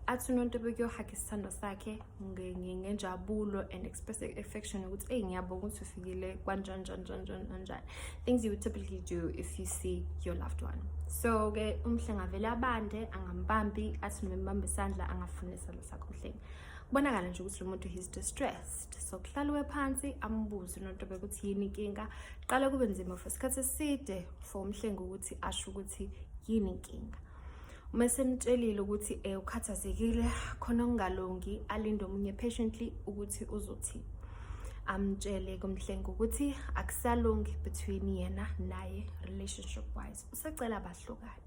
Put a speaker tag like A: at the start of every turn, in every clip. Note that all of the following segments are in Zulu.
A: athi unonto ebekuyohaga isithandwa sakhe ngenjabulo and express affection ukuthi eyi ngiyabonga ukuthi ufikile kwanjani njani njani njani kanjani things you would typically do if you see your loved one so-ke umhle ngavele abande angambambi athi noma embambe isandla angafuni isandla sakho umhlengi kubonakala nje ukuthi lo muntu he's distressed so kuhlaliwe phansi ambuze unonto bekuthi yini inkinga qala kube nzima for isikhathi eside for umhlengi ukuthi asho ukuthi yini inkinga uma esemtshelile ukuthi um eh, ukhathazekile khona okungalungi alinde omunye patiently ukuthi uzothini amtshele kumhlenga ukuthi akusalungi between yena naye relationship wise usacela bahlukane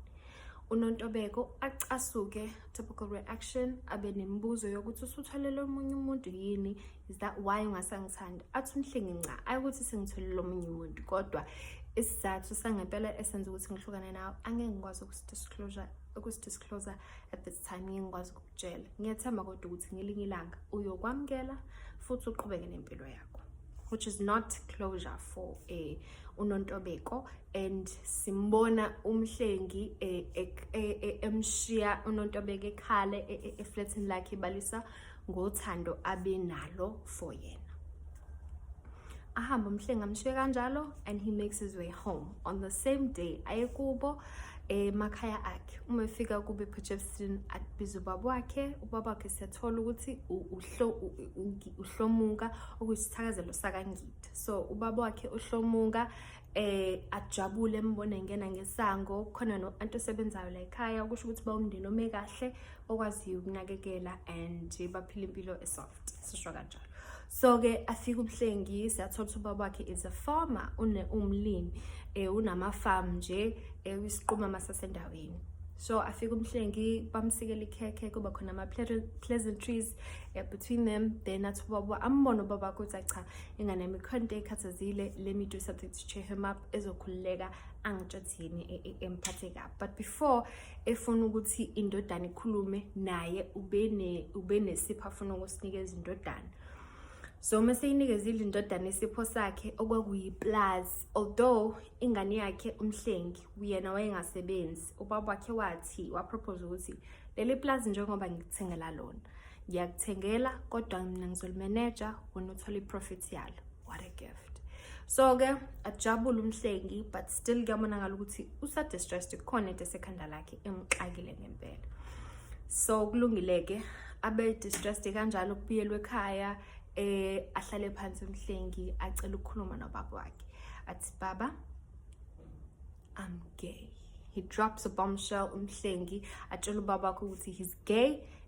A: unontobeko acasuke typical reaction abe nemibuzo yokuthi usuthwalele omunye umuntu yini is that why ungasangithandi athi umhlengi nca ayikuthi sengitholile omunye umuntu kodwa isizathu sangempela esenza ukuthi ngihlukane nawe angeke ngikwazi ukusidisclosure ukusidisclosure at this time ngeke ngikwazi ukukutshela ngiyethemba kodwa ukuthi ngelinye ilanga uyokwamukela futhi uqhubeke nempilo yakho which is not closure for a unontobeko and simbona umhlengi e, e, e, emshiya unontobeko ekhale eflatini lakhe ibalisa ngothando abenalo for yena ahambe umhlenga amshiye kanjalo and he makes his way home on the same day aye kubo emakhaya akhe uma efika kube ephetshefsini abiza ubaba wakhe ubaba wakhe siyathola ukuthi uhlomuka okuyisithakazelo sakangida so ubaba wakhe uhlomuka eh ajabule embona engena ngesango khona no anti osebenzayo la ekhaya kusho ukuthi bawumndeni ome kahle okwaziyo ukunakekela and baphila impilo esoft sisho kanjalo so-ke afike ubuhlengi siyathola ukuthi ubaba wakhe is a farmer umlimi um eh, unama-farm nje eh, uyisiqumama sasendaweni so afike umhlengi bamsikela ikhekhe kuba khona ama-pleasantries eh, between them then athi ubaba ambone ubaba wakho ukuthi cha ingane yami khona into ekhathazile let me do something to cheer him up ezokhululeka angitshathini emphathe kabi but before efuna ukuthi indodana ikhulume naye ubenesipho afuna ukusinikeza indodana so uma seyinikezile indodana isipho sakhe okwakuyiplazi although ingane yakhe umhlengi uyena wayengasebenzi ubaba wakhe wathi wapropose ukuthi leli plazi njengoba ngikuthengela lona ngiyakuthengela kodwa mina ngizolimeneja wena uthole iprofit yalo what a gift so ke ajabule umhlengi but still kuyabonakala ukuthi usadistressed kukhona into esekhanda lakhe emxakile ngempela so kulungile-ke abe distressed kanjalo kubuyelwe ekhaya eh ahlale phansi umhlengi acela ukukhuluma nobaba wakhe athi baba i'm gay he drops a bombshell umhlengi atshela ubaba wakhe ukuthi he's gay